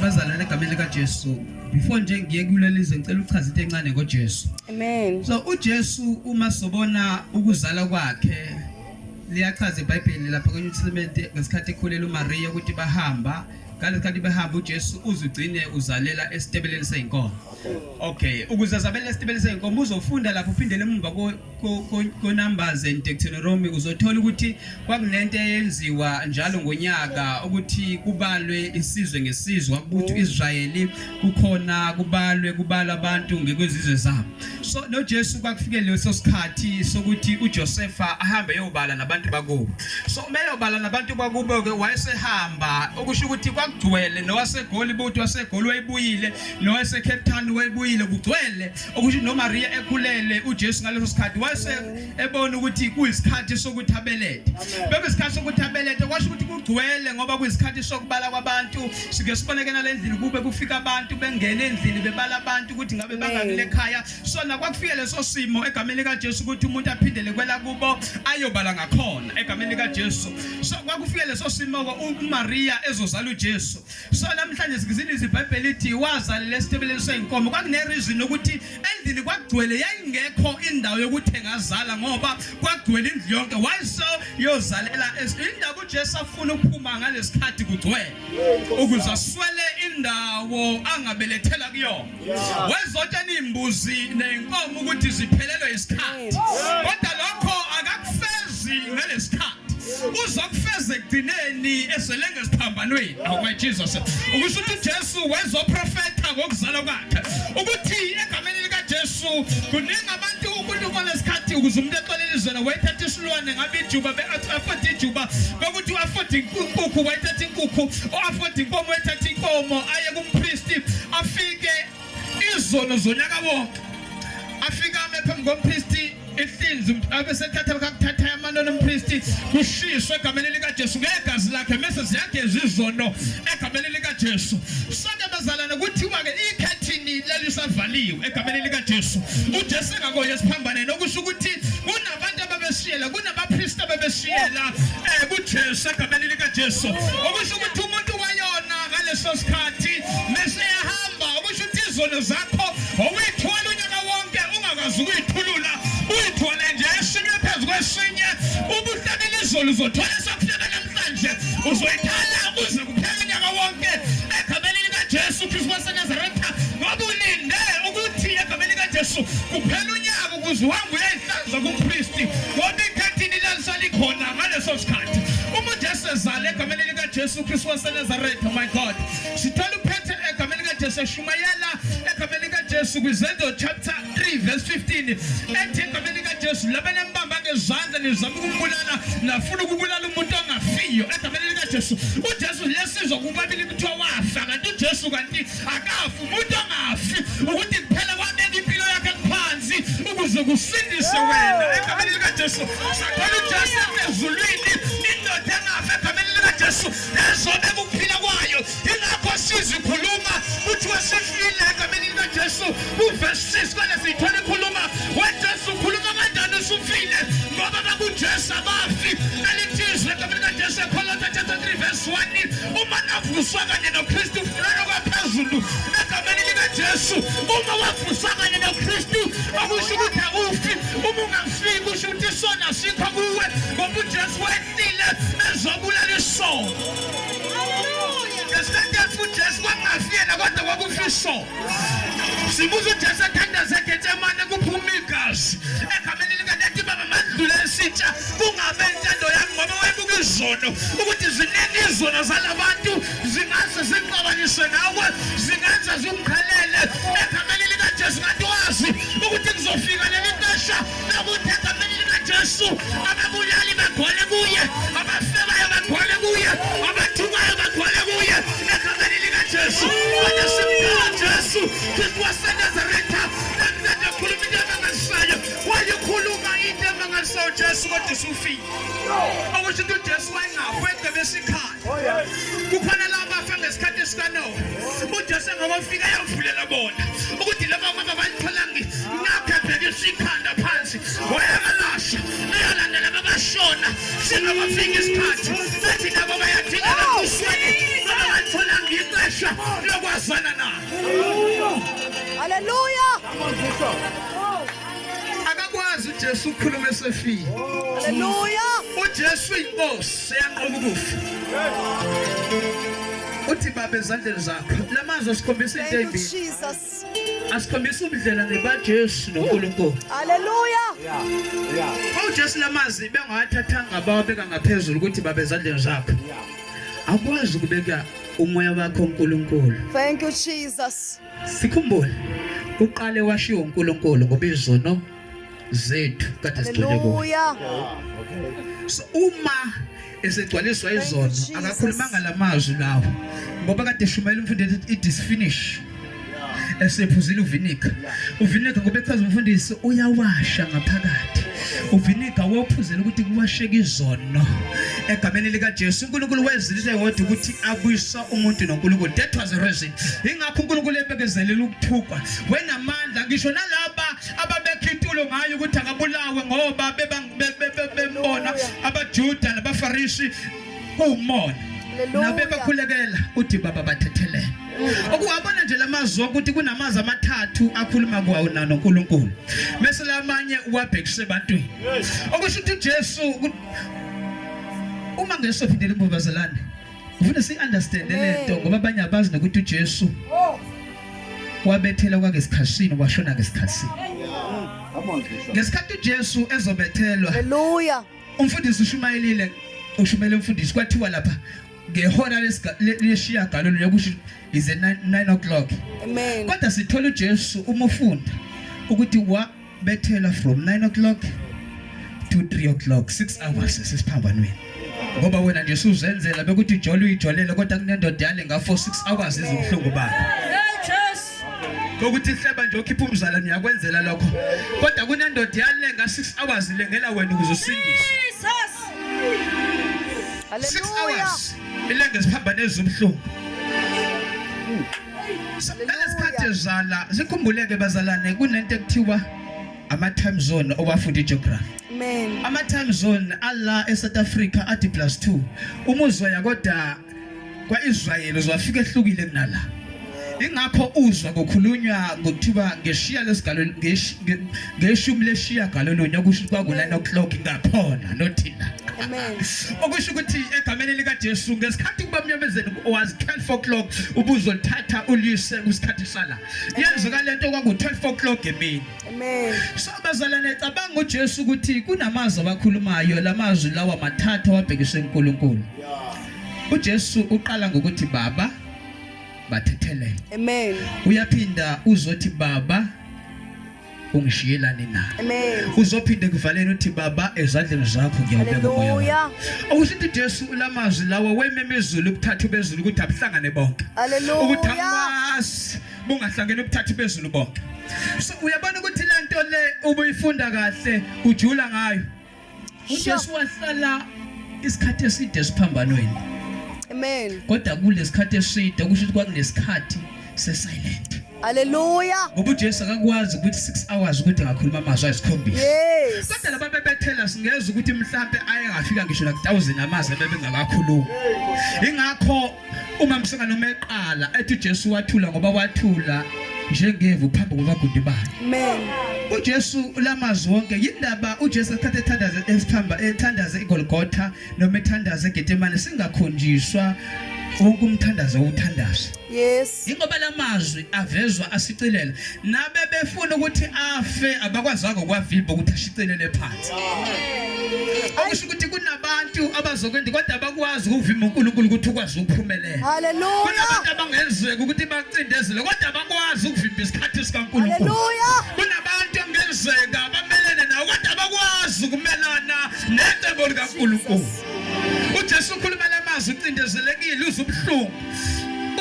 bazalwane egameni likaJesu before nje ngiye kulelizwe ngicela uchaza into encane ngoJesu amen so uJesu uma sobona ukuzala kwakhe liyachaza iBhayibheli lapha kwenye uTestament ngesikhathi ekhulela uMaria ukuthi bahamba ngalesikhathi behamba uJesu uzugcine uzalela esitebeleni seyinkomo okay ukuze azabele esitebeleni seyinkomo uzofunda lapho uphindele emuva kuNumbers and Deuteronomy uzothola ukuthi kwakunento eyenziwa njalo ngonyaka ukuthi kubalwe isizwe ngesizwe ukuthi mm. Israyeli kukhona kubalwe kubala abantu ngekwezizwe zabo so no Jesu kwakufike leso sikhathi sokuthi uJosefa ahambe eyobala nabantu bakubo so uma eyobala nabantu bakubo ke wayesehamba okusho ukuthi kwakugcwele nowasegoli buthi wasegoli wayibuyile nowaseCape Town wayibuyile kugcwele okusho noMaria ekhulele uJesu ngaleso sikhathi wase ebona ukuthi kuyisikhathi sokuthi abelethe bebe isikhathi sokuthi abelethe kwasho ukuthi kugcwele ngoba kuyisikhathi sokubala kwabantu sike sibonekena lendlini kube kufika abantu bengena endlini bebala abantu ukuthi ngabe bangakile ekhaya so nakwakufika leso simo egameni likaJesu ukuthi umuntu aphindele kwela kubo ayobala ngakhona egameni likaJesu so kwakufika leso simo uMaria ezozala uJesu So namhlanje sikiziniza iBhayibheli lithi wazalela esitebeleni seyinkomo. Kwakune reason ukuthi endlini kwagcwele yayingekho indawo yokuthi engazala ngoba kwagcwele indlu yonke. Why so yozalela indaba uJesu afuna ukuphuma ngalesikhathi kugcwele ukuze aswele indawo angabelethela kuyona. wezotshela iy'mbuzi ney'nkomo ukuthi ziphelelwe isikhathi kodwa lokho akakufezi ngalesi sikhathi uzokufeza ekugcineni esele ngesiphambanweni awumajesus ukusho ukuthi ujesu wezoprofetha ngokuzala kwakhe ukuthi egameni likajesu kuningi abantu unkulunkulu nesikhathi ukuze umuntu exolele izwela wayethatha isilwane ngabe ijuba be-afode ijuba kokuthi u-afode inkukhu wayethatha inkukhu u-afode inkomo wayethatha inkomo aye kumpristi afike izono zonyaka wonke afike ame phambi kompristi ihlinzi abesethatha kakuthatha amanoni umpristi kushiswe egameni likajesu ngegazi lakhe mese ziyageza izono egameni likajesu sonke bazalane kuthiwa-ke ikhethini lelisavaliwe egameni likajesu ujesu engakoye esiphambaneni okusho ukuthi abantu ababeshiyela kunabapristi abebeshiyela um kujesu egameni likajesu okusho ukuthi umuntu wayona ngaleso sikhathi meseyahamba okusho ukuthi izono zakho okuyithwala unyaka wonke ungakwazi ukuyithulula uyithwale nje esinye phezu kwesinye ubuhlabela izolo uzothwala esakuhleka namhlanje uzoyithala kuze kuphela unyaka wonke egameni likajesu kristu wasenazaretha ngoba ulinde ukuthi egameni likajesu kuphela unyaka Ukuze uhambe uyayihlaza kuKristu, kodwa ikhathini lalisalikhona ngaleso sikhathi. Uma uJesu ezala egameni likaJesu Kristu waseNazaretha, my God, sithola uphethe egameni likaJesu eshumayela egameni likaJesu kwiZenzo chapter 3 verse 15 ethi egameni likaJesu labanembamba ngezandla nizama ukumbulala nafuna ukubulala umuntu ongafiyo egameni likaJesu. UJesu liyasizwa kubabili kuthiwa wafa kanti uJesu kanti akafu umuntu angafi ukuthi kuphela kwabeka impilo yakhe phansi ukuze kusindise wena egameni likaJesu sakhona uJesu ezulwini indoda engafi egameni likaJesu ezobeka ukuphila kwayo ingakho sizikhuluma kuthiwa sifile egameni likaJesu uverse 6 kwale siyithola ikhuluma weJesu ukhuluma kanjani usufile ngoba bakuJesu abafi elithizwe egameni likaJesu ekholo 3 verse 1 uma navuswa kanye noKristu Lelo kwaphezulu egameni likaJesu uma wavusa kanye noKristu akusho ukuthi awufi uma ungafiki usho ukuthi isona sikho kuwe ngoba uJesu wehlile ezobulala isono ngesikhathi efa uJesu kwakungafi yena kodwa kwakufa isono sibuza uJesu ethandaza eGetsemane kuphuma igazi egameni likadade baba mandlula esitsha kungabe intando yami ngoba wayebuka izono ukuthi ziningi izono zalabantu zingase zingixabanise nawe zingenza zingikhalele egameni likajesu kanti wazi ukuthi kuzofika leli xesha lokuthi egameni likajesu ababulali bagole kuye abafebayo bagole kuye abathukayo bagole kuye egameni likajesu kodwa simdala jesu kristu wasenazaretha namnandi akhuluma into emangazisayo wayikhuluma into emangazisayo jesu kodwa usufile okusho ukuthi ujesu wayengafu edebe esikhala Oh, kukhona laba bafa ngesikhathi esikanowa ujesu engakofika yavulela bona ukuthi laba kwaba balitholangi ngaphephekisa ikhanda phansi wayabalasha eyalandela babashona singabafika isikhathi bathi labo bayadingeka kusweni baba balitholanga ixesha lokwazana nabo haleluya akakwazi uJesu ukukhuluma esefile haleluya uJesu inkosi eyanqoba ukufa uthi baba ezandleni zakho lamazwi asikhombisa into embi Jesus asikhombisa ubudlela nebaJesu noNkulunkulu haleluya yeah yeah uJesu lamazi bengawathathanga abawabeka ngaphezulu ukuthi baba ezandleni zakho yeah akwazi ukubeka umoya wakho uNkulunkulu thank you jesus Sikhumbule uqale washiya uNkulunkulu ngoba izono zethu kade sigcwele kuyo. So uma esegcwaliswa izono akakhulumanga lamazwi lawo ngoba kade shumayela umfundisi it is finish esephuzile uvinika uvinika ngoba echaza umfundisi uyawasha ngaphakathi uvinika wophuzela ukuthi kuwasheka izono egameni likaJesu uNkulunkulu wezilise yodwa ukuthi abuyisa umuntu noNkulunkulu that was the reason ingakho uNkulunkulu ebekezelela ukuthukwa wenamandla ngisho nalaba ababekha intulo ngayo ukuthi akabulawe ngoba bebambona abaJuda nabaFarisi kuwumona nabebakhulekela uthi baba bathethelele okuwabona nje lamazwi ukuthi kunamazwi amathathu akhuluma kwawo na noNkulunkulu bese lamanye uwabhekise ebantwini okusho ukuthi uJesu uma ngesophindela imbuvazelane ngifuna si-understande le nto ngoba abanye abazi nokuthi ujesu wabethelwa kwake sikhashini washona ke sikhashini ngesikhathi ujesu ezobethelwa haleluya umfundisi ushumayelile ushumele umfundisi kwathiwa lapha ngehora leshiya galo lokusho is 9 o'clock amen kodwa sithola uJesu umufunda ukuthi wa bethela from 9 o'clock to 3 o'clock 6 hours sesiphambanweni ngoba wena nje suzenzela bekuthi ijole uyijolele kodwa kunendoda yale ngafo 6 hours izibuhlungu bakho ukuthi hleba nje okhipha umzala niyakwenzela lokho kodwa kunendoda yale nga 6 hours ilengela wena ukuze usindise 6 hours ilenge siphambane ezibuhlungu Nalesikhathi ezala sikhumbuleke bazalane kunento ekuthiwa ama time zone owafundi geography amen ama time zone alla e South Africa athi plus 2 uma uzoya kodwa kwaIsrael uzwafika ehlukile kunala ingakho uzwa kukhulunywa ngokuthiwa ngeshiya lesigalo ngeshumi leshiyagalolunye okusho ukuthi kwaku-nine o'clock ngakhona nothina okusho ukuthi egameni likajesu ngesikhathi kuba mnyamezeni was 12 o'clock ubuzolithatha ulise kwisikhathi sala yenzuka le nto kwaku-12 o'clock emini so bazalane cabanga ujesu ukuthi kunamazwi abakhulumayo la mazwi lawa mathathu awabhekiswe unkulunkulu ujesu uqala ngokuthi baba bathethelele uyaphinda uzothi baba ungishiyelani na uzophinde kuvalele uthi baba ezandleni zakho ngiyawubeka umoya awusithi Jesu ulamazwi lawa wememe izulu ukuthatha bezulu ukuthi abuhlangane bonke ukuthi amasi bungahlangene ukuthatha bezulu bonke so uyabona ukuthi lento le ubuyifunda kahle ujula ngayo uJesu wahlala isikhathi eside siphambanweni amen kodwa kulesikhathi eside kusho ukuthi kwakunesikhathi sesilent Haleluya. Ngoba uJesu akakwazi ukuthi 6 hours ukuthi ngakhuluma amazwi ayisikhombisa. Yes. Kodwa laba bebethela singeza ukuthi mhlambe ayengafika ngisho la 1000 amazwi bebengakakhulumi. Ingakho Uma msengane uma eqala ethi uJesu wathula ngoba wathula njengevu phambi kwabagundi bakhe. Amen. uJesu lamazwi wonke yindaba uJesu athathe ethandaze esithamba ethandaze iGolgotha noma ethandaze eGethsemane singakhonjiswa wonke umthandazo owuthandaza. Yes. Yingoba la mazwi avezwa ashicilela nabebefuna ukuthi afe abakwazanga ukwavimba ukuthi ashicilele phansi. Okusho ukuthi kunabantu abazokwenza kodwa abakwazi ukuvimba uNkulunkulu ukuthi ukwazi ukuphumelela. Haleluya. Kunabantu abangenzeka ukuthi bacindezele kodwa abakwazi ukuvimba isikhathi sikaNkulunkulu. Haleluya. Kunabantu ongenzeka bamelene nawo kodwa abakwazi ukumelana necebo likaNkulunkulu. uJesu ukhuluma lamazwi ucindezelekile uzubuhlungu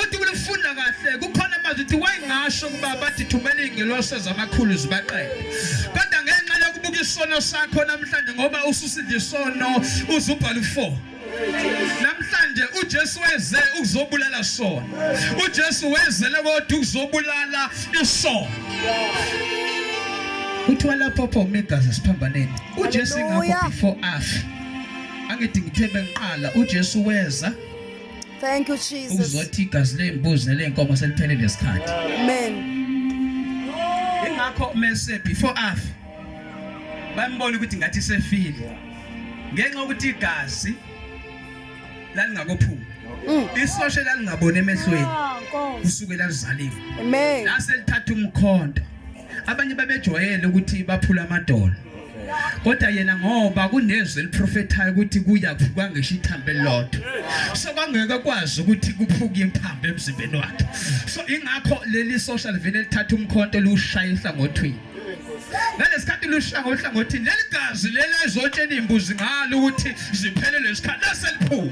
Uthi kulifunda kahle kukhona amazwi uthi wayengasho ukuba bathi thumela izingelosi zamakhulu zibaqede. Kodwa ngenxa yokubuka isono sakho namhlanje ngoba ususile isono uzubhala u4. Namhlanje uJesu weze ukuzobulala sona. UJesu wezele kodwa ukuzobulala isono. Kuthiwa lapho pho umegazi siphambaneni. UJesu ingakho before afa. Angithi ngithe bengiqala uJesu weza Thank you Jesus. Uzothi igazi lezimbuzi neleenkomo seliphelele lesikhathi. Amen. Ingakho mese before afi bambona ukuthi ngathi sefile. Ngenxa ukuthi igazi lalingakophumi. Mm. Isoshe lalingabona emehlweni. Ah, kusukela lizaliwe. Amen. Lase lithatha umkhonto. Abanye babejwayele ukuthi baphula amadolo. Kodwa yena ngoba kunezwi eliprofethayo ukuthi kuya kuvuka ngisho ithambo elilodwa. So kwangeke kwazi ukuthi kuphuke imphambo emzimbeni wakhe. So ingakho leli social vile lithatha umkhonto liwushaya ihlangothwini. ngalesikhathi lushanga uhlangothini leli gazi leli ezotshela iy'mbuzi ngalo ukuthi ziphelelwe isikhathi laseliphuma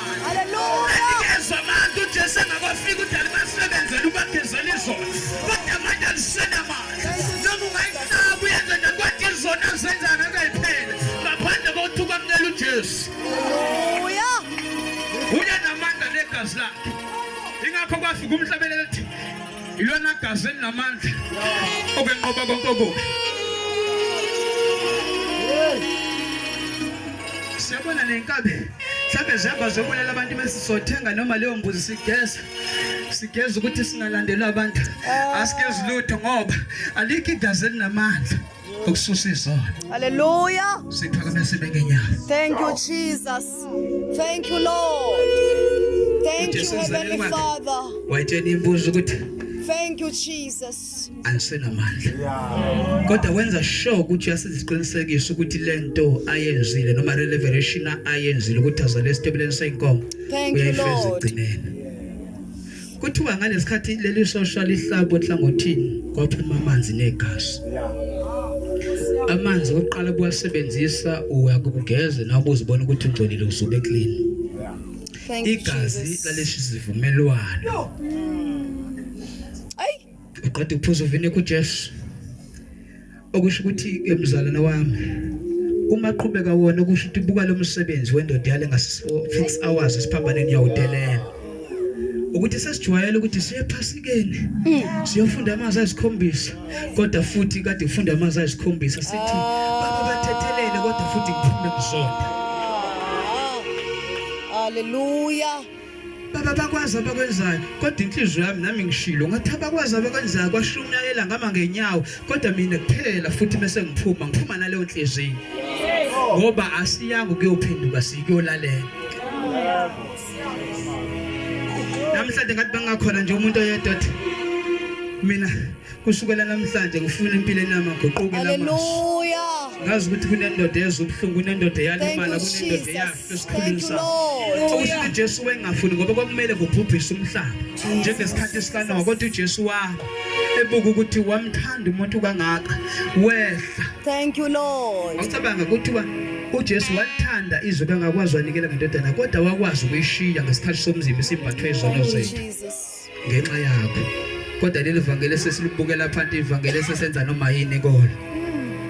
Anikezwa amandla uJesu engakwafika uthi alibasebenzele ubagezela izono kodwa manje alisenamandla noma ungayinqaba uyenze nje kodwa izono azenzana akayiphele ngaphandle kokuthi ukwamukela uJesu uyanamandla negazi lakhe ingakho kwafika umhlabeleli ethi Ilona gazi elinamandla okwenqoba konke okubi. Siyabona nenkabi mhlawumbe zihamba zobulala abantu mesizothenga noma leyo mbuzi sigeza sigeza ukuthi singalandelwa abantu asigezi lutho ngoba alikho igazi elinamandla ukususa izono haleluya siphakame sibe ngenyawo thank you jesus thank you lord thank you heavenly father wayitshena imbuzo ukuthi Thank you Jesus. Angisenamandla. Kodwa wenza sure ukuthi uyasiziqinisekisa ukuthi lento ayenzile noma revelation ayenzile ukuthi azale esitebeleni senkomo. Thank you Lord. Kuthiwa ngalesikhathi leli sosha lihlabwe enhlangothini kwaphuma amanzi negazi. Amanzi oqala kuwasebenzisa uyakugeza nawe uzibona ukuthi ungcolile usube clean. Igazi lalesi sivumelwano. Uqeda ukuphuza uvine kuJesu. Okusho ukuthi ke mzalwane wami uma qhubeka wona okusho ukuthi buka lo msebenzi wendoda yale ngase 6 hours esiphambaneni yawudelela. ukuthi sesijwayele ukuthi siyephasikeni hmm. siyofunda amazwi ayisikhombisa kodwa futhi kade kufunda amazwi ayisikhombisa sithi baba bathethelele kodwa futhi kuphume kuzona haleluya baba bakwazi abakwenzayo kodwa inhliziyo yami nami ngishilo ngathi abakwazi abakwenzayo kwashumayela ngama ngenyawo kodwa mina kuphela futhi mese ngiphuma ngiphuma naleyo nhliziyo ngoba asiyanga ukuyophenduka sikuyolalela namhlanje ngathi bangakhona nje umuntu oyedwa mina Kusukela namhlanje ngifuna impilo enamaguquko Haleluya. Ngazi ukuthi kunendoda ezwa ubuhlungu, kunendoda eyalimala, kunendoda eyafa esikhulwini sakho. Okusho uJesu wengafuni ngoba kwakumele kubhubhise umhlaba njengesikhathi sikaNowa kodwa uJesu wa ebuka ukuthi wamthanda umuntu kangaka wehla. Thank you Lord. Ngicabanga ukuthi wa uJesu wathanda izwe kangakwazi wanikela ngendodana kodwa wakwazi ukuyishiya ngesikhathi somzimba simbathwe izono zethu. ngenxa yakho kodwa leli vangeli esesilibukela phansi ivangeli esesenza noma yini kona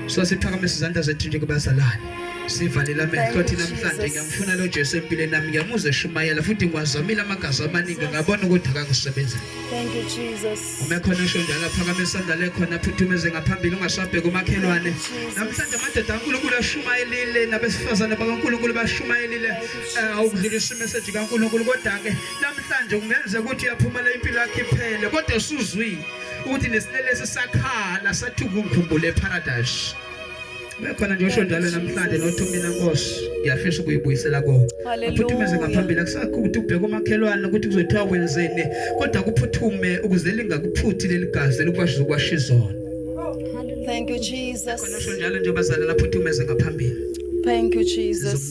so siphakamisa izandla zethu nje kubazalwane sivalele amehlo athi namhlanje ngiyamfuna lo Jesu empilweni nami ngiyamuze shumayela futhi ngiwazamile amagazi amaningi ngabona ukuthi akakusebenza thank you jesus uma khona esho njalo phakamisa isandla lekhona phuthumeze ngaphambili ungasabheki umakhelwane namhlanje amadoda kaNkulunkulu ashumayelile nabesifazane bakaNkulunkulu bashumayelile awukudlulisa eh, imeseji kaNkulunkulu kodwa ke Namhlanje kungenzeka ukuthi uyaphumela impilo yakhe iphele kodwa usuzwile ukuthi nesilelesi sakhala sathi ukungikhumbule eparadise. Bekhona nje usho njalo namhlanje nothi mina Nkosi ngiyafisa ukuyibuyisela ko. Aphuthumeze ngaphambili akusakho ukuthi ubheke umakhelwane ukuthi kuzothiwa wenzeni kodwa kuphuthume ukuze lingakuphuthi leli gazi elikwashiza ukwasha izona. Thank you Jesus. Khona usho njalo nje bazalana aphuthumeze ngaphambili. Thank you Jesus.